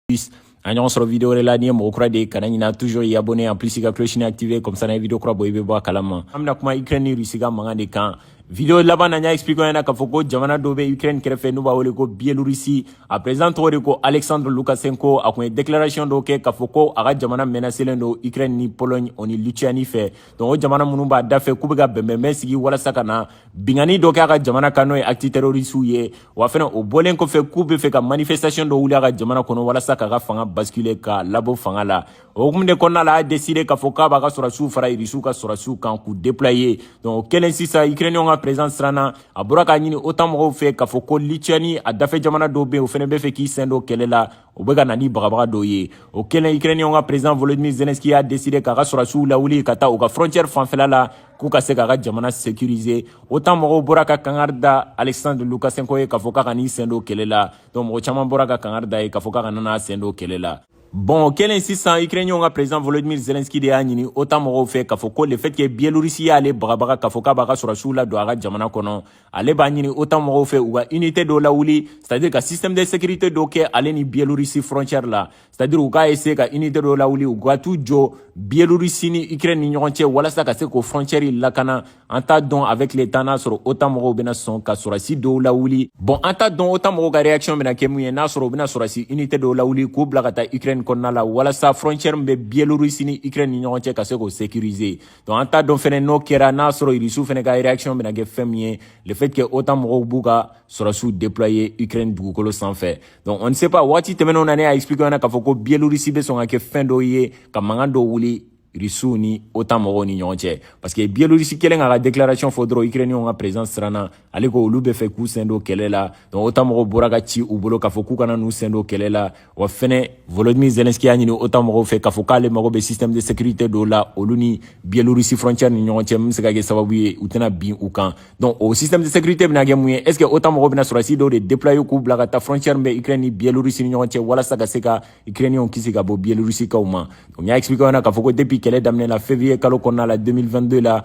plus an ɲɔgɔn sɔrɔ video wɛrɛ la n'i ye mɔgɔ kura de ye i kana ɲina toujours i abonné en plus i ka clochini activé comme ça n'an ye video kura bɔ i bɛ bɔ a kalama an bɛna kuma ukraine ni russie ka mankan de kan video laban na n y'a expliqué aw ɲɛna k'a fɔ ko jamana dɔ bɛ ukraine kɛrɛfɛ n'u b'a wele ko bielorussie a président tɔgɔ de ko alexandre lukashenko a tun ye déclaration dɔ kɛ k'a fɔ ko a ka jamana menacelen don ukraine ni pologne o ni lituanie fɛ donc o jamana minnu b'a dafɛ k'u bɛ ka bɛnbɛnbɛn sigi walasa ka na binkanni dɔ kɛ a ka jamana kan n'o ye acte terroristew ye wa fɛnɛ o bɔlen kɔfɛ k'u bɛ fɛ ka manifestation dɔ wuli a ka jamana kɔnɔ walasa k'a ka fanga basculer k'a labɔ fanga la o hukumu de kɔnɔna la a y'a deside k'a fɔ k'a b'a ka sɔrɔdasiw fara irisiw ka sɔrɔdasiw kan k'u déployer donc o kɛlen sisan ukrainiyɛnw ka président siranna a bɔra k'a ɲini otan mɔgɔw fɛ k'a fɔ ko lituani a dafɛ jamana dɔ bɛ yen o fɛnɛ bɛ fɛ k'i sen don kɛlɛ la u bɛ ka na ni bagabaga dɔw ye o kɛlen ukrainiyɛnw ka président volodymyr zelensky y'a deside k'a ka sɔrɔsiw lawuli ka taa u ka frontiɛre fanfɛla la k'u ka se k'a ka jamana sécuriser otan mɔgɔw bɔra ka kangari da alexandre lukashenko ye k'a fɔ k'a kan'i sen don kɛlɛ la donc mɔgɔ caman bɔra ka kangari d'a ye k'a fɔ k'a kana n'a sen don kɛlɛ la bon o kɛlen sisan ukrainiyɛnw ka président volodymyr zelensky de y'a ɲini otan mɔgɔw fɛ k'a fɔ ko le fait que bielorisi y'ale bagabaga k'a fɔ k'a b'a ka sɔrɔsiw ladon a ka jamana kɔnɔ ale b'a ɲini OTAN mɔgɔw fɛ u ka unité dɔ lawuli c'est à dire ka système de sécurité dɔ kɛ ale ni Biélorussie frontière la c'est à dire u k'a essayer ka unité dɔ lawuli u ka t'u jɔ Biélorussie ni Ukraine ni ɲɔgɔn cɛ walasa ka se k'o frontière lakana an t'a dɔn avec le temps n'a sɔrɔ OTAN mɔgɔw bɛna sɔn ka sɔrɔdasi dɔw lawuli bon an t'a dɔn OTAN mɔgɔw ka réaction bɛna kɛ mun ye n'a sɔrɔ u bɛna sɔrɔdasi unité dɔw lawuli k'u bila ka taa Ukraine kɔnɔna la walasa frontière min bɛ Biélorussie ni Ukraine ni ɲɔgɔn cɛ ka se k'o sécuriser donc an t'a dɔn fɛnɛ n'o kɛra n'a sɔrɔ irisiw fɛnɛ ka réaction bɛna kɛ fɛn min ye le fait que otan mɔgɔw b'u ka sɔrɔsiw déployer ukraine dugukolo sanfɛ donc on ne sait pas waati tɛmɛnenw na ne y'a expliqué aw ɲɛna k'a fɔ ko bielorisi bɛ sɔn ka kɛ fɛn dɔ ye ka mankan dɔ wuli irisiw ni otan mɔgɔw ni ɲɔgɔn cɛ parce que bielorisi kɛlen k'a ka déclaration fɔ dɔrɔn ukrainienw ka président siranna ale ko olu bɛ fɛ k'u sen don kɛlɛ la donc otan mɔgɔw bɔra ka ci u bolo k'a fɔ k'u kana n'u sen don kɛlɛ la wa fɛnɛ volodymyr zelensky y'a ɲini otan mɔgɔw fɛ k'a fɔ k'ale mago bɛ système de sécurité dɔw la olu ni bielorussie frontière ni ɲɔgɔn cɛ min bɛ se ka kɛ sababu ye u tɛna bin u kan donc o système de sécurité bɛna kɛ mun ye est ce que otan mɔgɔw bɛna sɔrɔsi dɔw de déployer k'u bila ka taa frontière min bɛ ukraine ni bielorussie ni ɲɔgɔn cɛ walasa ka se ka ukrainienw kisi ka bɔ bielorusikaw ma donc n y'a expliquer aw ɲɛna k'a fɔ ko depuis kɛlɛ daminɛ la février kalo kɔnɔna la 2022 la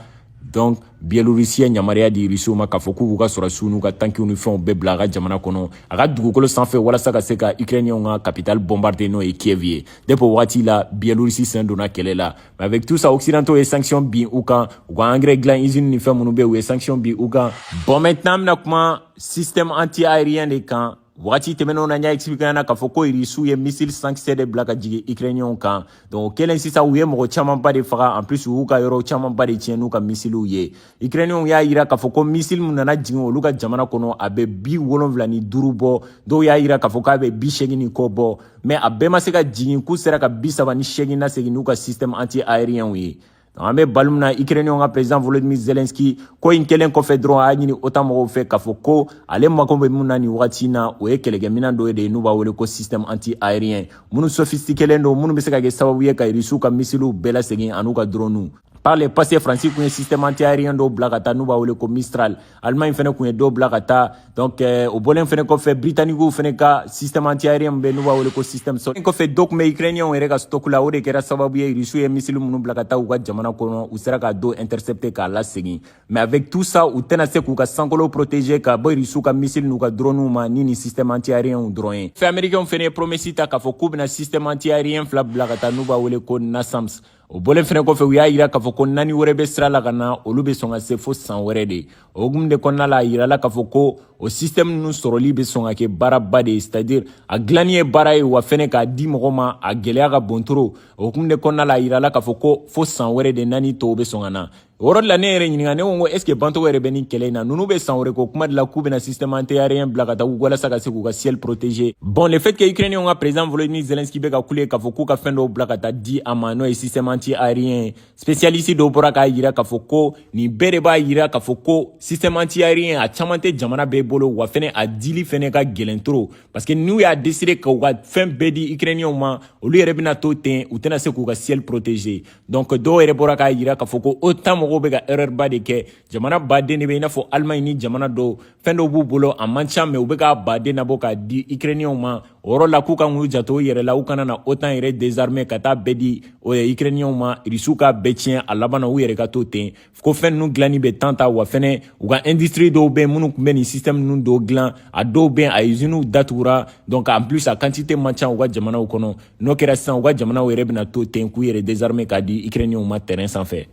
donc bielorisi ye yamaruya di irisiw ma k'a fɔ k'u k'u ka sɔrɔsiw n'u ka tankiw ni fɛnw bɛɛ bila a ka jamana kɔnɔ a ka dugukolo sanfɛ walasa ka se ka ukrainiyɛnw ka kapitali bombarder n'o ye kiev ye depuis o waati la bielorisi sen donna kɛlɛ la mais avec tout ça occidentaux ye sanction bin u kan u ka engrais dilan usine ni fɛn minnu bɛ u ye sanction bin u kan bon maintenant an bɛna kuma système anti aérien de kan Wagati tɛmɛnenw na n y'a expliquer ɲɛna k'a fɔ ko irisiw ye missile sankisɛ de bila ka jigin ukrainiyɛnw kan donc o kɛlen sisan u ye mɔgɔ camanba de faga en plus u y'u ka yɔrɔ camanba de tiɲɛ n'u ka misiliw ye ukrainiyɛnw y'a yira k'a fɔ ko misile min nana jigin olu ka jamana kɔnɔ a bɛ bi wolonwula ni duuru bɔ dɔw y'a yira k'a fɔ k'a bɛ bi seegin ni kɔ bɔ mais a bɛɛ ma se ka jigin k'u sera ka bi saba ni seegin lasegin n'u ka système anti aérien ye an bɛ waati min na ikirɛniyɛnw ka perezidan volodimir zelenski ko in kɛlen kɔfɛ dɔrɔn a y'a ɲini otan mɔgɔw fɛ k'a fɔ ko ale mako bɛ min na nin wagati na o ye kɛlɛkɛminan dɔ de ye n'u b'a wele ko système anti aérien minnu sofistikelen don minnu bɛ se ka kɛ sababu ye ka irisiw ka misiliw bɛɛ lasegin an'u ka droniw par le passé faransi kun ye système anti aérien dɔw bila ka taa n'u b'a wele ko mistral Allemagne fana kun ye dɔw bila ka taa donc euh, o bɔlen fana kɔfɛ britanniquew fana ka système anti aérien min bɛ n'u b'a wele ko système sɔrɔ kɔfɛ dɔ tun bɛ ukrainien yɛrɛ ka stock la o de kɛra sababu ye rusiw ye misili minnu bila ka taa u ka jamana kɔnɔ u sera ka dɔ intercepter k'a lasegin mais avec tout ça u tɛna se k'u ka sankolo protéger ka bɔ rusiw ka misili n'u ka dronew ma ni nin système anti aérienw dɔrɔn ye mais américainw fana ye promesse ta k'a fɔ k'u bɛna système anti aérien fila bila ka taa n'u b'a wele ko nasams o bɔlen fɛnɛ kɔfɛ u y'a yira k'a fɔ ko naani wɛrɛ bɛ sira la ka na olu bɛ sɔn ka se fo san wɛrɛ de o hukumu de kɔnɔna la a yirala k'a fɔ ko o sistɛmu ninnu sɔrɔli bɛ sɔn ka kɛ baaraba de ye c'est à dire a dilanni ye baara ye wa fɛnɛ k'a di mɔgɔ ma a gɛlɛya ka bon trop o hukumu de kɔnɔna la a yirala k'a fɔ ko fo san wɛrɛ de naani tɔw bɛ sɔn ka na o yɔrɔ de la ne yɛrɛ ɲininka ne ko ko est ce que ban tɔgɔ yɛrɛ bɛ nin kɛlɛ in na ninnu bɛ san wɛrɛ ko kuma de la k'u bɛna système antiaérien bila ka taa walasa ka se k'u ka ciel protéger bon le fait que ukrainien ka président volodymyr zelensky bɛ ka kule k'a fɔ k'u ka fɛn dɔw bila ka taa di a ma n'o ye système antiaérien spécialiste dɔw bɔra k'a yira k'a fɔ ko nin bɛɛ de b'a yira k'a fɔ ko système antiaérien a caman tɛ jamana bɛɛ bolo wa fɛnɛ a dili fɛnɛ ka gɛlɛn trop parce que n'u y'a décider k'u ka fɛn bɛɛ di ukrainien ma olu yɛrɛ bɛna to ten u tɛna se k'u ka ciel protéger donc dɔw yɛrɛ bɔra k'a yira k'a fɔ ko otan mɔgɔw bɛ ka erreur ba de kɛ jamana baden de bɛ i n'a fɔ allemagne ni jamana dɔw fɛn dɔw b'u bolo a man ca mɛ u bɛ k'a baden nabɔ k'a di ukrainienw ma o yɔrɔ la k'u kan k'u janto u yɛrɛ la u kana na otan yɛrɛ désarmer ka taa bɛɛ di ukrainienw ma irisiw k'a bɛɛ tiɲɛ a laban na u yɛrɛ ka to ten ko fɛn ninnu dilanni bɛ temps ta wa fɛnɛ u ka industrie dɔw bɛ minnu kun bɛ nin système ninnu dɔw dilan a dɔw bɛ a usines datugura donc en plus a quantité man ca u ka jamanaw kɔnɔ n'o kɛra sisan u ka jamanaw yɛrɛ bɛna to ten k'u yɛrɛ désarmer k'a di ukrainienw ma terrain sanfɛ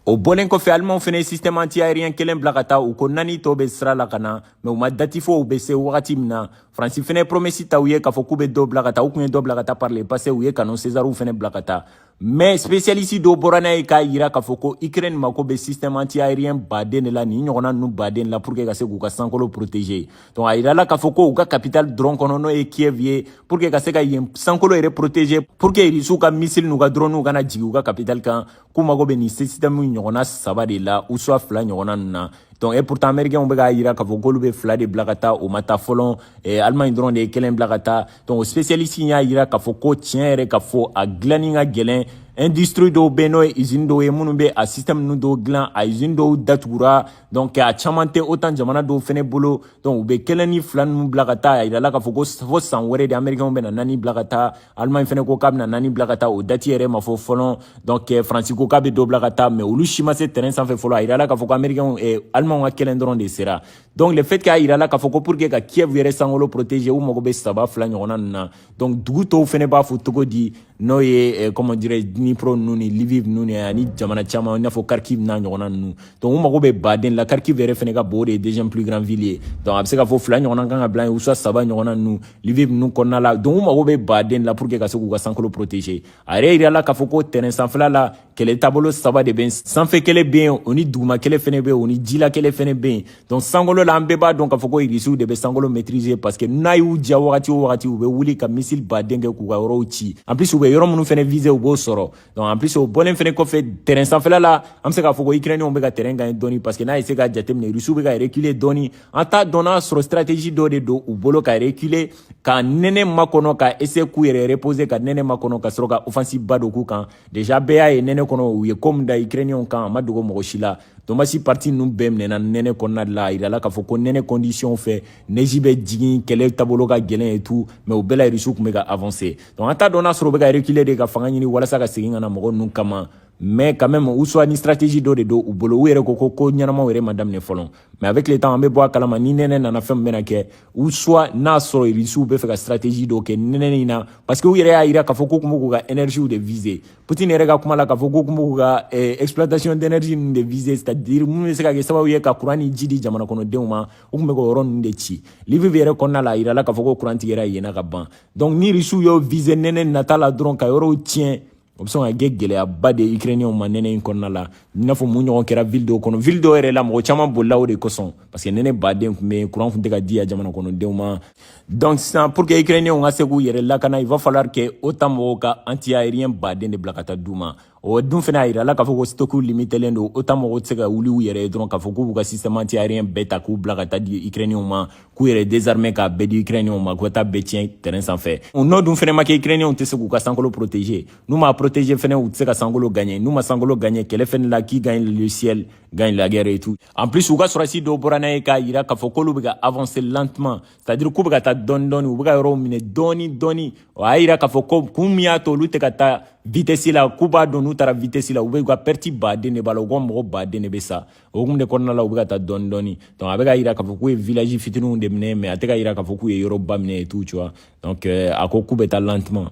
o bɔlen kɔfɛ alimanw fana ye système anti aérien kelen bila ka taa u ko naani tɔw bɛ sira la ka na mɛ u ma dati fɔ u bɛ se wagati min na faransi fana ye promesi ta u ye k'a fɔ k'u bɛ dɔ bila ka taa u tun ye dɔ bila ka taa par le passé u ye canon césarw fana bila ka taa Mais spécialiste dɔ bɔra n'a ye k'a jira k'a fɔ ko Ukraine mako bɛ système anti-aérien baden de la nin ɲɔgɔnna ninnu baden la pour que ka se k'u ka sankolo protéger donc a jirala k'a fɔ ko u ka capitale dɔrɔn kɔnɔ n'o ye Kiev ye pour que ka se ka yen sankolo yɛrɛ protéger pour que Russiw ka missile n'u ka dronew kana jigin u ka capitale kan k'u mako bɛ nin système ɲɔgɔnna saba de la ou soit fila ɲɔgɔnna ninnu na donc et pourtant américains bɛ k'a jira k'a fɔ k'olu bɛ fila de bila ka taa o ma taa fɔlɔ eh, Allemagne dɔrɔn de ye kelen bila ka taa donc spécialiste in y'a yira k'a fɔ ko tiɲɛ yɛrɛ k'a fɔ a dilanni ka gɛlɛn industrie dɔw bɛ n'o ye usine dɔw ye minnu bɛ a système ninnu dɔw dilan a usine dɔw datugura donc a caman tɛ otan jamana dɔw fɛnɛ bolo donc u bɛ kelen ni fila ninnu bila ka taa a yirala k'a fɔ ko fo san wɛrɛ de américainw bɛna naani bila ka taa allemagne fɛnɛ ko k'a bɛna naani bila ka taa o dati yɛrɛ ma fɔ fɔlɔ donc faransi ko k'a bɛ dɔ bila ka taa mais olu si ma se terrain sanfɛ fɔlɔ a yirala k'a fɔ ko américainw eh, allemagnw ka kelen dɔrɔn de sera donc le fait k'a yirala k'a fɔ ko pour que ka kiev yɛrɛ sankolo protéger u mago bɛ saba fila ɲɔgɔnna ninnu na donc dugu tɔw fɛnɛ b'a fɔ cogo di n'o ye eh, comment dirais dnipro ninnu ni liviv ninnu ni ani jamana caman i n'a fɔ kharkiv n'a ɲɔgɔnna ninnu donc u mago bɛ baden la kharkiv yɛrɛ fɛnɛ ka bon o de ye deuxième plus grand ville ye donc a bɛ se ka fɔ fila ɲɔgɔnna kan ka bila yen ou soit saba ɲɔgɔnna ninnu liviv ninnu kɔnɔna la donc u mago bɛ baden la pour que ka se k'u ka sankolo protéger a yɛrɛ yirala k'a fɔ ko terrain sanfɛla la kɛlɛ taabolo saba de bɛ sanfɛ kɛlɛ bɛ yen o ni duguma kɛlɛ fɛnɛ bɛ yen o ni jila kɛlɛ fɛnɛ bɛ yen donc sankolo la an bɛɛ b'a dɔn k'a fɔ ko irisiw de bɛ sankolo maîtriser parce que n'a y'u diya wagati o wagati u bɛ wuli ka missile baden kɛ k'u ka yɔrɔw ci en plus u bɛ yɔrɔ minnu fɛnɛ viser u b'o sɔrɔ donc en plus o bɔlen fɛnɛ kɔfɛ terrain sanfɛla la an bɛ se k'a fɔ ko ukrainiens bɛ ka terrain gagner dɔɔni parce que n'i y'i sigi k'a jateminɛ irisiw bɛ ka reculer dɔɔni an t'a dɔn n'a sɔrɔ stratégie dɔ de don u bolo ka reculer ka nɛnɛ makɔnɔ ka essayer k'u yɛrɛ reposer ka nɛnɛ makɔnɔ ka sɔrɔ ka offensive ba don k'u kan déjà bɛɛ y'a ye nɛnɛ kɔnɔ u ye ko min da ukrainiyɛnw kan a ma dogo mɔgɔ si la donbass partie ninnu bɛɛ minɛna nɛnɛ kɔnɔna de la a yirala k'a fɔ ko nɛnɛ conditionw fɛ neji bɛ jigin kɛlɛ taabolo ka gɛlɛn et tout mais o bɛɛ la irisiw tun bɛ ka avancer donc an t'a dɔn n'a sɔrɔ u bɛ ka reculer de ka fanga ɲini walasa ka segin ka na mɔgɔ ninnu kama mais quand même ou soit ni stratégie dɔ de don u bolo u yɛrɛ ko ko ko ɲɛnamaw yɛrɛ ma daminɛ fɔlɔ mais avec le temps an bɛ bɔ a kalama ni nɛnɛ nana fɛn min bɛna kɛ ou soit n'a sɔrɔ irisiw bɛ fɛ ka stratégie dɔ kɛ nɛnɛ in na parce que u yɛrɛ y'a jira k'a fɔ k'u tun bɛ k'u ka énergie de viser putin yɛrɛ ka kuma la k'a fɔ k'u tun bɛ k'u ka eh, exploitation d'énergie ninnu de viser c'est à dire minnu bɛ se ka kɛ sababu ye ka kuran ni ji di jamana kɔnɔdenw ma u tun bɛ k'o yɔrɔ ninnu de ci liviv yɛrɛ kɔnɔna la a jirala k'a fɔ ko kuran tigɛra yen na ka ban donc ni irisiw y'o viser nɛnɛ nata la dɔrɔn ka yɔrɔw tiɲɛ o bɛ sɔn ka kɛ gɛlɛyaba de ye ukrainiyɛnw ma nɛnɛ in kɔnɔna la i n'a fɔ min ɲɔgɔn kɛra ville dɔw kɔnɔ ville dɔw yɛrɛ la mɔgɔ caman bolila o de kosɔn parce que nɛnɛ baden tun bɛ kuran tun tɛ ka di a jamana kɔnɔdenw ma donc sisan pour que ukrainiyɛnw ka se k'u yɛrɛ lakana il va falloir que otan mɔgɔw ka anti aérien baden de bila ka taa d'u ma o dun fana a yirala k'a fɔ ko stokiw limitelen don otan mɔgɔw tɛ se ka wuli u yɛrɛ ye dɔrɔn k'a fɔ k'u b'u ka système anti aérien bɛɛ ta k'u bila ka taa di ukrainiyɛnw ma k'u yɛrɛ désarmer k'a bɛɛ di ukrainiyɛnw ma k'u taa bɛɛ tiɲɛ terrain sanfɛ o nɔ dun fɛnɛ ma kɛ ukrainiyɛnw tɛ se k'u ka sankolo protéger n'u m'a protéger fɛnɛ u tɛ se ka sankolo gagner n'u ma sankolo gagner kɛlɛ fɛnɛ la qui gagne le ciel gagne la guerre et tout en plus u ka sɔrɔsi dɔw bɔra n'a ye k'a yira k'a fɔ k'olu bɛ ka avancer lentement c'est à dire k'u bɛ ka taa dɔɔni dɔɔni u bɛ ka yɔrɔw minɛ dɔɔni dɔɔni o y'a yira k'a fɔ ko kun min y'a to olu tɛ ka taa vitesse la k'u b'a dɔn n'u taara vitesse la u bɛ u ka perte baden de b'a la u ka mɔgɔ baden de bɛ sa o kun de kɔnɔna la u bɛ ka taa dɔɔni dɔɔni donc a bɛ k'a yira k'a fɔ k'u ye village fitininw de minɛ mais a tɛ k'a yira k'a fɔ k'u ye yɔrɔba minɛ et tout tu vois donc euh, a ko k'u bɛ taa lentement